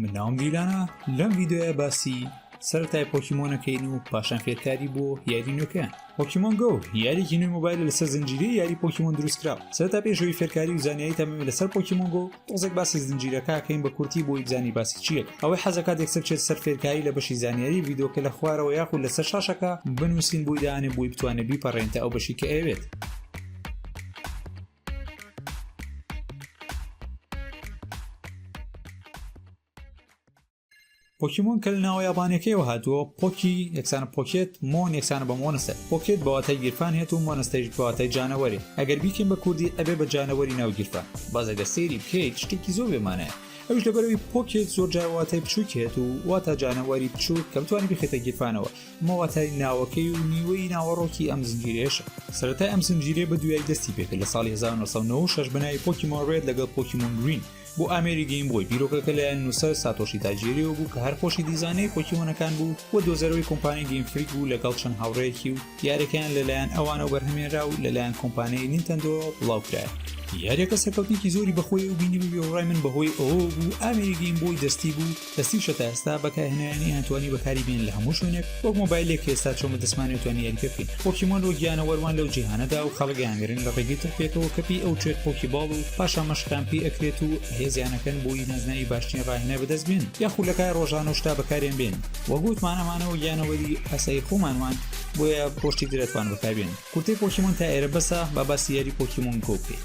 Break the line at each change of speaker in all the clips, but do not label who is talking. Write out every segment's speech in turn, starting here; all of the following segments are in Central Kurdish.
من ناوم دیلانە لەم ڤیددیوە باسی سەرەتای پۆکیمۆنەکەین و پاشان فێرکاری بۆ یاری نوێکەیان پۆکیمۆن گۆ یاریکی نوێ مۆبایل لەسەر زنجیری یاری پۆکیمۆن دروستکرا سەرتا پێشەوەی فێرکاری و زانیایی تەمەمە لەسەر پۆکیمۆن گۆ تۆزێک باسی زنجیرەکەکەین بە کورتی بۆی بزانی باسی چیە ئەوەی حەزەکات یەکسەر چێت سەر فێرکاری لە بەشی زانیاری ڤیددیوکە لە خوارەوە یاخود لەسەر شاشەکە بنووسین بۆی دانێ بۆی بتوانێت بیپەڕێنتە ئەو بەشی کە ئەوێت پۆکیمۆن کە لە ناوە یابانەکەیەوە هاتووە پۆکی یەکسانە پۆکێت مۆن یەکسانە بە مۆنستە پۆکێت بەواتای گیرفان هێت و مۆنستەیش بەواتای جانەوەری ئەگەر بیکەین بە کوردی ئەبێ بە جانەوەری ناو گیرفان باز ئەگەر سێری بکەیت شتێکی زۆر بێمانایە ئەوش لەبەرەوەی پۆکێت زۆر جاواتای بچووکێت و واتا جانەوەری بچووک کە بتوانانی بخێتە گیرفانەوە مۆاتای ناوەکەی و نیوەی ناوەڕۆکی ئەم زنجیرەیەشە سەرەتای ئەم زنجیرێ بە دوایی دەستی پێکرد لە ساڵی 1996 بەناوی پۆکیمۆن ڕێت لەگەڵ پۆکیمۆن گرین بۆ ئامێری گەیم بۆی بیرۆکەکە لەیان نووسەر ساتۆشی تاجێریەوە بوو کە هەر خۆشی دیزانەی پۆکیمۆنەکان بوو و دۆزەرەوەی کۆمپانی گەیم فریک بوو لەگەڵ چەند هاوڕێکی و یارەکەیان لەلایەن ئەوانەوە بەرهەمێنرا و لەلایەن کۆمپانیای نینتەندۆ بڵاوکرایە یاریەکە سەرکەوتێکی زۆری بەخۆی و بینی بووی و ڕای من بەهۆی ئەوە بوو ئامێری گەیم بۆی دەستی بوو لە سی شە تا ئێستا بەکارهێنەرانی ئەتوانی بەکاری بێن لە هەموو شوێنێک وەک مۆبایلێک ئێستا چۆن بە دەسمانی توانی یاریکە بکەین پۆکیمۆن وە گیانەوەروان لەو جیهانەدا و خەڵک ئەیانگرن لە ڕێگەی تڕپێکەوە کەپی ئەو چێت پۆکی باڵ و پاشان مەشقیان پێ ئەکرێت و هێزیانەکەن بۆی نازناوی باشترین ڕاهێنەر بەدەست بێنن یاخود لە کایە ڕۆژانە و شتا بەکاریان بێنن وەک وتمان ئەمانە وە گیانەوەری ئاسایی خۆمان وان بۆیە بۆ شتی تر ئەتوان بەکاربێنن کورتەی پۆکیمۆن تا ئێرە بەسە با باسی یاری پۆکیمۆن گۆ بکەین.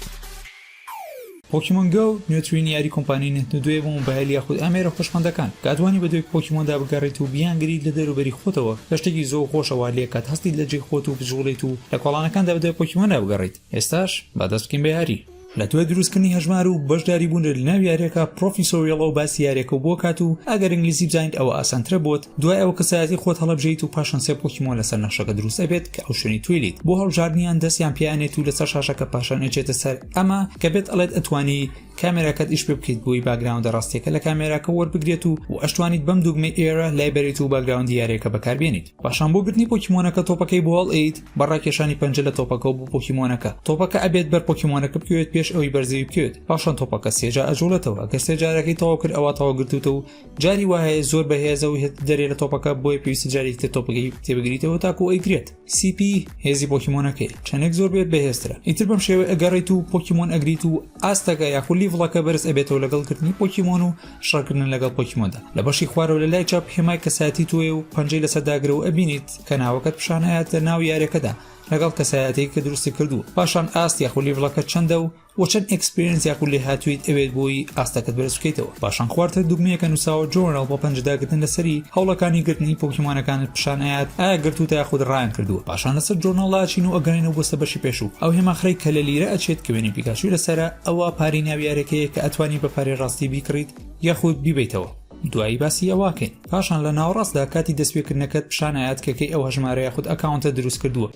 پۆکیمۆن گۆ، نوێترین یاری کۆمپانیای نتندۆیە بۆ مۆبایل یاخود ئامێرە هۆشمەندەکان، کە ئەتوانی بە دوای پۆکیمۆندا بگەڕێیت و بیانگریت لە دەروبەری خۆتەوە، کە شتێکی زۆر خۆشە وا لێکات هەستیت لە جێی خۆت و بجوڵێیت و لە کۆڵانەکاندا بەدوای پۆکیمۆندا بگەڕێیت، ئێستاش با دەست بکەین بە یاری. لە دوای دروستکردنی هەژمار و بەشداریبوونت لەناو یاریەکە، پرۆفیسۆریڵ ئەو باسی یاریەکەو بۆ کات و ئەگەر ئینگلیزی بزانیت ئەوە ئاسانترە بۆت، دوای ئەوە کەسایەتی خۆت هەڵەبژێیت و پاشان سێ پۆکیمۆن لەسەر نەخشەکە دروست ئەبێت کە ئەو شوێنی توی لیت بۆ هەڵبژاردنیان دەستیان پێ ئەنێت و لەسەر شاشەکە پاشان ئەچێتە سەر ئەمە کە پێت ئەڵێت ئەتوانی کامێراکەت ئیش پێ بکەیت بۆی باگراوندە ڕاستیەکە لە کامێراکە وەربگرێت و و ئەشتوانیت بەم دوگمەی ئێرە لای بەریت و باگراوندی یاریەکە بەکاربێنیت پاشان بۆ گرتنی پۆکیمۆنەکە تۆپەکەی بۆ هەڵئەیت بە ڕاکێشانی پەنجە لە تۆپەکە و بۆ پۆکیمۆنەکە تۆپەکە ئەبێت بەر پۆکیمۆنەکە بکەوێت پێش ئەوی بەرزەوی بکەوێت پاشان تۆپەکە سێجا ئەجوڵێتەوە گەر سێجارەکەی تەواو کرد ئەوە تەواو گرتوتە و جاری وایە زۆر بەهێزە و هێت دەرێ لە تۆپەکە بۆیە پێویستە جارێکی تر تۆپەکەی تێبگریتەوە تاکو ئەیگرێت سیپی هێزی پۆکیمۆنەکەی چەندێک زۆر بێت بەهێزترە ئیتر بەم شێوە ئەگەڕیت و پۆکیمۆن ئەگریت و ئاستەکە یاخو لیڤڵەکە بەرز ئەبێتەوە لەگەڵ کردنی پۆکیمۆن و شەڕکردن لەگەڵ پۆکیمۆندا لە بەشی خوارەوە لە لای چاپ هێمای کەسایەتی تۆیە و پەنجەی لەسەر داگرە و ئەبینیت کە ناوەکەت پیشان ئەیاتە ناو یارەکەدا لەگەڵ کەسایەتێک کە دروستی کردووە پاشان ئاست یاخو لیڤڵەکە چەندە و وە چەند ئێکسپێرێنس یاخود لێهاتوویت ئەوێت بۆی ئاستەکەت بەرز بکەیتەوە پاشان خوارتر دوگمەیەکە نوساوە جۆرناڵ بۆ پەنجداگرتن لەسەری هەوڵەکانی گرتنی پۆکیمۆنەکانت پشان ئەیات ئایا گرتووتە یاخود ڕایان کردووە پاشان لەسەر جۆرناڵدا ئەچین و ئەگەڕێینەوە بۆ سەر بەشی پێشوو ئەو هێماخرەی کە لە لیرە ئەچێت کە وێنەی پیکاچوی لەسەرە ئەوە پارەی ناوی یارێکەیە کە ئەتوانی بە پارەی ڕاستی بیکڕیت یاخود بیبەیتەوە دوایی باسی ئەوەکەین پاشان لە ناوەڕاستدا کاتی دەستپێکردنەکەت پشان ئەیات کە کەی ئەو هەژمارە یاخود ئەکاونتە دروستکردووە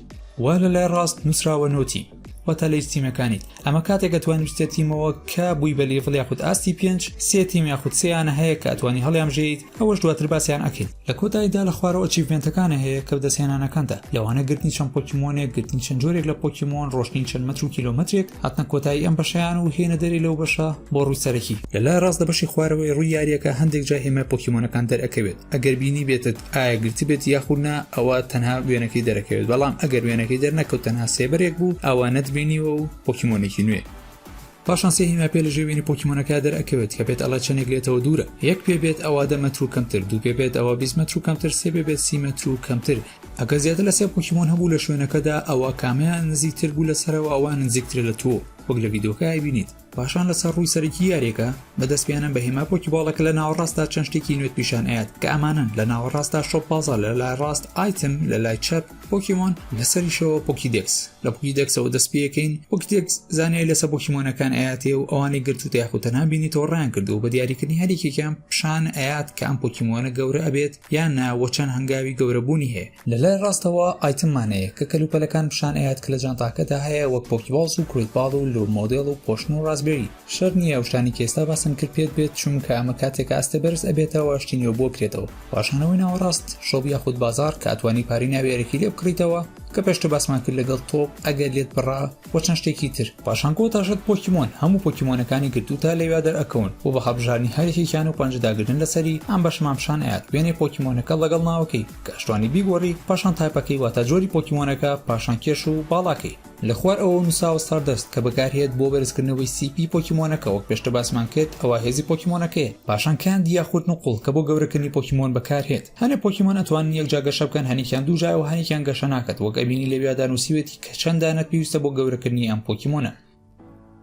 وە لە لای ڕاست نوسراوە نۆتی واتە لە یستیمەکانیت ئەمە کاتێک ئەتوانی بچتە تیمەوە کە بووی بە لیڤڵ یاخود ئاستی پێنج سێ تیم یاخود سێیانە هەیە کە ئەتوانی هەڵیانبژێیت ئەوەش دواتر باسیان ئەکەین لە کۆتاییدا لە خوارەوە ئەچیڤمێنتەکانە هەیە کە بەدەستهێنانەکانتە لەوانە گرتنی چەند پۆکیمۆنێک گرتنی چەند جۆرێک لە پۆکیمۆن ڕۆشتنی چەند مەتر و کیلۆمەترێک هاتنە کۆتایی ئەم بەشەیان و هێنە دەرێ لەو بەشە بۆ ڕووی سەرەکی لە لای ڕاست لە بەشی خوارەوەی ڕووی یارییەکە هەندێک جا هێمای پۆکیمۆنەکان دەرئەکەوێت ئەگەر بینیبێتت ئایا گرتبێت یاخود نا ئەوا تەنها وێنەکەی دەرەکەوێت بەڵام ئەگەر وێنەکەی دەرنەکەوت تەنها سێبەرێک بوو ئەوا نەتبینیوە و پۆکیمۆنێکی نوێ پاشان سێ هیماپێ لە ژێ وێنی پۆکیمۆنەکە دەرەکەوێت کە پێت ئەڵە چەندێک لێتەوە دوورە یەک پێ بێت ئەوا دە مەتر و کەمتر دوو پێ بێت ئەوە 20 مەتر و کەمتر سێ بێ بێت سی مەتر و کەمتر ئەگە زیاتر لە سێ پۆکیمۆن هەبوو لە شوێنەکەدا ئەوە کامەیان نزیکتر بوو لە سەرەوە ئەوان نزیکترە لە تۆ وەک لە ڤیدۆکە ئەبینیت پاشان لە سەر ڕووی سەرەکی یاریەکە بە دەست پێنان بە هێما پۆکیباڵە کە لە ناوەڕاستدا چەند شتێکی نوێت پیشان ئەیات کە ئەمانن لە ناوەڕاستدا شۆپ بازار لە لای ڕاست ئایتم لە لای چەپ پۆکیمۆن لەسەریشەوە پۆکی دەکس لە پۆکی دەکسەوە دەست پێەکەین پۆکی دەکس زانیاری لەسە پۆکیمۆنەکان ئااتێ و ئەوانی گرتو تاخوتە نابینیتەوە ڕیان کردو بە دیاریکردنی هەریکێکیان پیشان ئەیات کە ئەم پۆکیمۆنە گەورە ئەبێت یان نا وە چەند هەنگاوی گەورە بوونی هەیە. لە لای ڕاستەوە ئایتم مانەیە کە کەلوپەلەکان پیشان ئەیات کە لە جانتاکەدا هەیە وەک پۆکیباڵس و کروت باڵ و لۆ مۆدێڵ و پۆشن و ڕاسبێری شەرت نیە ئەو شتانەی کە ئێستا باسم کرد پێت بێت چونکە ئەمە کاتێکە ئەستێ بەرز ئەبێتەوە شتی نوێ بۆ کرێتەوە پاشانەوەی ناوەڕاست شۆپ یاخود بازاڕ کە ئەتوانی پارەی ناویارەکی لێ بکڕیتەوە کە پێشتر باسمان کرد لەگەڵ تۆپ ئەگەر لێت بڕا و چەند شتێکی تر پاشان کۆتا شت پۆکیمۆن هەموو پۆکیمۆنەکانی گرتووتە لەویا دەرئەکەون و بە هەڵبژاردنی هەر یەکێکیان و پەنجە داگرتن لەسەری ئەم بەشەمان پیشان ئەیات وێنەی پۆکیمۆنەکە لەگەڵ ناوەکەی کە ئەشتوانی بیگۆڕی پاشان تایپەکەی واتە جۆری پۆکیمۆنەکە پاشان کێش و باڵاکەی لە خوار ئەوەوە نووساوە ستاردەست کە بەکارهێت بۆ بەرزکردنەوەی سی پی پۆکیمۆنەکە وەک پێشتر باسمان کرد ئەوە هێزی پۆکیمۆنەکەیە پاشان کاندی یاخود نقوڵ کە بۆ گەورەکردنی پۆکیمۆن بەکارهێت هەنێ پۆکیمۆن ئەتوانن یەک جا گەشە بکەن هەنێکیان دوو جایەوە هەنێکیان گەشە ناکەت وەک ئەبینی لەویادا نوسیوێتی کە چەند دانەت پێویستە بۆ گەورەکردنی ئەم پۆکیمۆنە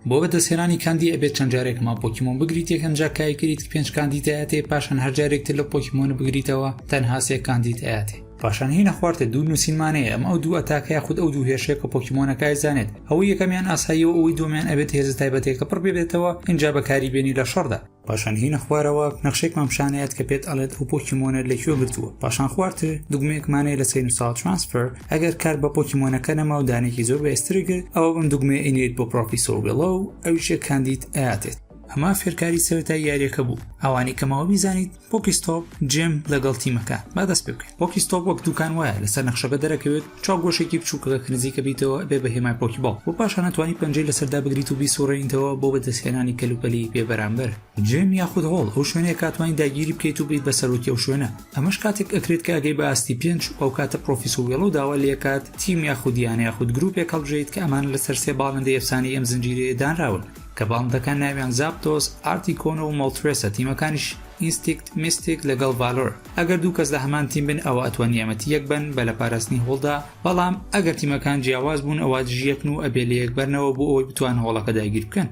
بۆ بەدەستهێنانی کاندی ئەبێت چەند جارێک ماو پۆکیمۆن بگریت یەکەم جار کای کریت پێنج کاندی دایەتێ پاشان هەر جارێک تر لە پۆکیمۆن بگریتەوە تەنها سێ کاندی دایەتێ پاشان هینە خوارتە دوو نووسینمانەیە ئەم ئەو دوو ئەتاکە یاخود ئەو دوو هێرشێک کە پۆکیمۆنەکای زانێت ئەوەی یەکەمیان ئاساییەوە ئەوەی دومیان ئەبێت هێزە تایبەتێکە پڕ ببێتەوە ئینجا بەکاری بێنی لە شەڕدا پاشان هینە خوارەوە نەخشێکمان پیشانەیەت کە پێت ئەڵێت ئەو پۆکیمۆنەر لە کوێ گرتووە پاشان خوارتر دوگمەیەکمانەیە لە سین ساڵ ترانسفەر ئەگەر کار بە پۆکیمۆنەکە نەما و دانێکی زۆر بەێستری کرد ئەوە بم دوگمێ ئینێت بۆ پرۆپی سۆبێڵە و ئەویشێک کاندید ئااتێت ئەمە فێرکاری سەرەتای یاریەکە بوو ئەوانی کەمەوە بیزانیت پۆکیستۆپ جێم لەگەڵ تیمەکە با دەست پێ بکەیت پۆکیستۆپ وەک دوکان وایە لەسەر نەخشەکە دەرەکەوێت چاو گۆشێکی بچووک کە نزیکە بیتەوە ئەبێ بە هێمای پۆکیباڵ و پاشان ئەتوانی پەنجەی لەسەر دابگریت و بیسوڕێنیتەوە بۆ بەدەستهێنانی کەلوپەلی بێ بەرامبەر. جیم یاخود هۆڵ ئەو شوێنەیە کە ئەتوانی داگیری بکەیت و بیت بە سەرۆکی ئەو شوێنە ئەمەش کاتێک ئەکرێت کە ئەگەی بە ئاستی پێنج و ئەوکاتە پڕۆفیسۆ وێڵۆ داوا لێکات تیم یاخود یانە یاخود گروپێک هەڵبژێیت کە ئەمانە لەسەر سێ باڵندەی ئەفسانەی ئەم زنجیرەیە دانراون کە باڵندەکان ناویان زاپتۆس، ئارتیکۆن و مۆڵترێسە تیمەکانیش ئینستیکت، میستیک لەگەڵ ڤالۆر. ئەگەر دوو کەس لە هەمان تیم بن ئەوا ئەتوان یامەتی یەک بەن بە لە پاراستنی هۆڵدا بەڵام ئەگەر تیمەکان جیاواز بوون ئەوا دژی یەکن و ئەبێ لە یەک بەرنەوە بۆ ئەوەی بتوان هۆڵەکە داگیر بکەن.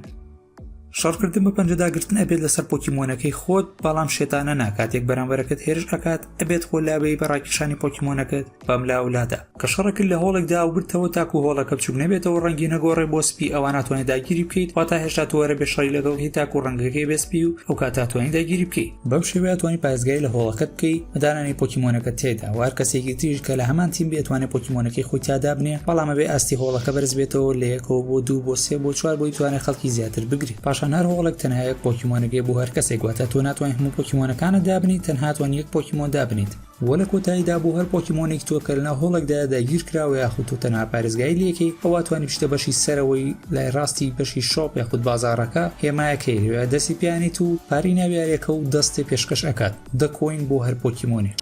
شەڕکردن بە پەنجە داگرتن ئەبێت لەسەر پۆکیمۆنەکەی خۆت بەڵام شێتانە نا کاتێک بەرامبەرەکەت هێرش ئەکات ئەبێت خۆ لابەی بە ڕاکێشانی پۆکیمۆنەکەت بەم لاو لادا کە شەڕەکت لە هۆڵێک دا و گرتەوە تاکو هۆڵەکە بچوک نەبێتەوە ڕەنگی نەگۆڕێ بۆ سپی ئەوا ناتوانێ داگیری بکەیت واتا هێشتا تۆ وەرە بێ شەڕی لەگەڵ بکەی تاکو ڕەنگەکەی بێ سپی و ئەو کاتە توانی داگیری بکەی بەم شێوەیە توانی پارێزگای لە هۆڵەکەت بکەی بە دانانی پۆکیمۆنەکە تێدا وار کەسێکی تریش کە لە هەمان تیم بێت توانێ پۆکیمۆنەکەی خۆی تا دابنێ بەڵام ئەبێ ئاستی هۆڵەکە بەرز بێتەوە لە یەکەوە بۆ دوو بۆ سێ بۆ چوار بۆی توانێ خەڵکی زیاتر بگرێ پاشان هەر هۆڵێک تەنها یەک پۆکیمۆنەگەی بۆ هەر کەسێک واتە تۆ ناتوانین هەموو پۆکیمۆنەکانت دابنیت تەنها توانی یەک پۆکیمۆن دابنیت وە لە کۆتاییدا بۆ هەر پۆکیمۆنێکی تۆ کە لەناو هۆڵێکدایە داگیرکراوە یاخود تۆ تەنها پارێزگاری لێکەی ئەوا توانی بچیتە بەشی سەرەوەی لای ڕاستی بەشی شۆپ یاخود بازاڕەکە هێمایەکەی لەوێ دەستی پیانیت و پارەی ناو یاریەکە و دەستێ پێشکەش ئەکات دە کۆین بۆ هەر پۆکیمۆنێک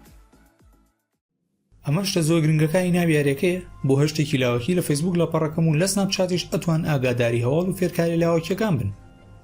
ئەمە شتە زۆر گرنگەکانی ناو یاریەکەیە بۆ هەر شتێکی لاوەکی لە فەیسبوک لە پەڕەکەم و لە سناپ چاتیش ئەتوان ئاگاداری هەواڵ و فێرکاریە لاوەکیەکان بن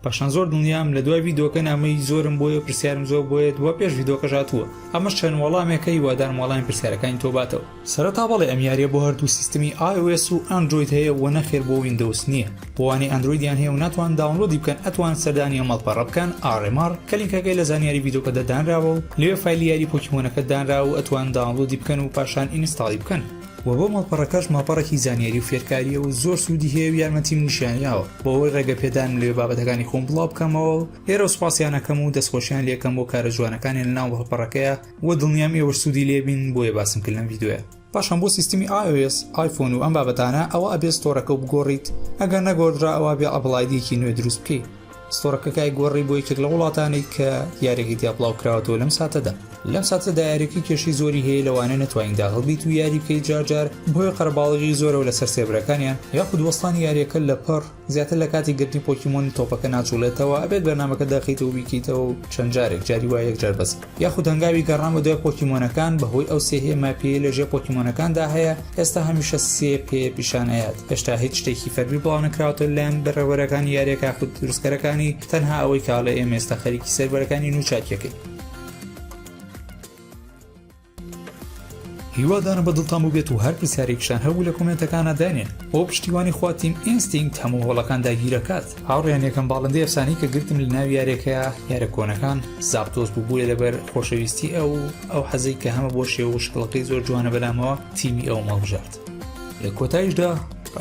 پاشان زۆر دڵنیام لەدوای ڤیدۆکە نامەی زۆرم بۆیە و پرسیارم زۆر بۆیە دووا پێش ڤیدۆکەش هاتووە ئەمەش چەند وەڵامێکە هیوادارم وەڵامی پرسیارەکانی تۆ باتەوە. سەرەتا بەڵێ ئەم یاریە بۆ هەردوو سیستمی iOS و ئەندرۆید هەیە وە نەخێر بۆ ویندۆوس نیە بۆوانەی ئەندرۆیدیان هەیە و ناتوان داونلۆدی بکەن ئەتوان سەردانی ئەم مەڵپەڕە بکەن RMR کە لینکەکەی لە زانیاری ڤیدۆکەدا دانراوە و لەوێ فایلی یاری پۆکیمۆنەکە دانراوە و ئەتوان داونلۆدی بکەن و پاشان ئینستاڵی بکەن وە بۆ ماڵپەڕەکەش ماڵپەڕێکی زانیاری و فێرکاریە و زۆر سودی هەیە و یارمەتیم نیشانیاوە بۆ ئەوەی ڕێگە پێدانم لەوێ بابەتەکانی خۆم بڵاو بکەمەوە و لێرەوە سوپاسیانەکەم و دەستخۆشیان لێکەم بۆ کارە جوانەکانیان لە ناو ماڵپەڕەکەیە و دڵنیام ئێوەش سودی لێبین بۆیە باسم کرد لەم ڤیدۆیە. پاشان بۆ سیستمی ios ئایفۆن و ئەم بابەتانە ئەوا ئەبێ ستۆرەکەو بگۆڕیت ئەگەر نەگۆردرا ئەوا بێ ئەپڵ ئایدیەکی نوێ دروست بکەی. ستۆرەکەکای گۆڕی بۆ یەکێک لە وڵاتانێک کە یاریەکەی تیا بڵاو کراوەەوە لەم ساتەدا لەم ساتە دایارەکە کێشی زۆری هەیە لەوانە نتوانین داهڵبیت و یاری بکەیت جارجار بۆی قەرباڵغی زۆرەوە لەسەر سێبرەکانیان یاخود وەستانی یاریەکە لە پڕ زیاتر لە کاتی گرتنی پۆکیمۆنی تۆپەکە ناچڵێتەوە ئەبێت بەرنمەکە داخیتەوە بیکەیتەوە و چەند جارێک جاری وایەک جار بەس یاخود هەنگاوی گەڕان بە دوای پۆکیمۆنەکان بەهۆی ئەو سێ هێ ماپیەی لە ژێ پۆکیمۆنەکاندا هەیە ئێستا هەمیشە سێ پێ پیشان ئەیات هێشتا هیچ شتێکی فەرمی بڵاو نەکراوەتە لەلایەن بەڕێوەبەرەکانی یاریەکە یاخود دروستکەرەکانی تەنها ئەوەی کاڵێ ئێمە ئێستا خەریکی سێرڤەرەکانین و چاکیەکەین. هیوادارم بە دڵتان بوبێت و هەر پرسیارێکیشتان هەبوو لە کۆمێنتەکانا دانێن بۆ پشتیوانی خوا تیم ئینستینکت هەموو هۆڵەکان داگیرەکات هاوڕێیان یەکەم باڵندەی ئەفسانەی کە گرتم لە ناو یارێکەیە یارە کۆنەکان زاپتۆس بوو بووە لەبەر خۆشەویستی ئەو ئەو حەزەی کە هەمە بۆ شێوە و شکڵەکەی زۆر جوانە بەلامەوە تیمی ئەوم هەڵبژارد لە کۆتاییشدا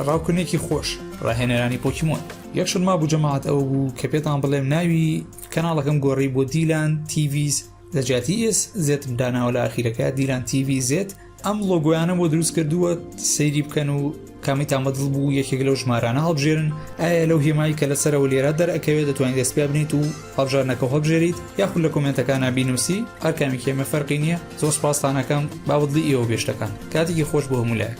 ڕاوکردنێکی خۆش ڕاهێنەرانی پۆکیمۆن یەکشت مابوو جەماعەت ئەوە بوو کە پێتان بڵێم ناوی کەناڵەکەم گۆڕی بۆ دیلان تیڤیز لە جیاتی ئێس زێت داناوە لە ئاخیرەکە دیلان تیوی زێت ئەم لۆگویانە بۆ دروست کردووە سەیری بکەن و کامی تامەدڵ بوو یەکێک لەو ژمارانە هەڵبژێرن ئایا لەو هێمایی کە لەسەرەوە لێرە دەرەکەوێت دەتوانین دەست پێ بنیت و هەڵبژارنەکە هەڵبژێریت یاخود لە کۆمنتەکان نبینوسی هەرکامی کێمە فەرقی نییە زۆر سپاستانەکەم بابدڵی ئێوە بێشتەکان کاتێکی خۆش بۆ هەمولایەک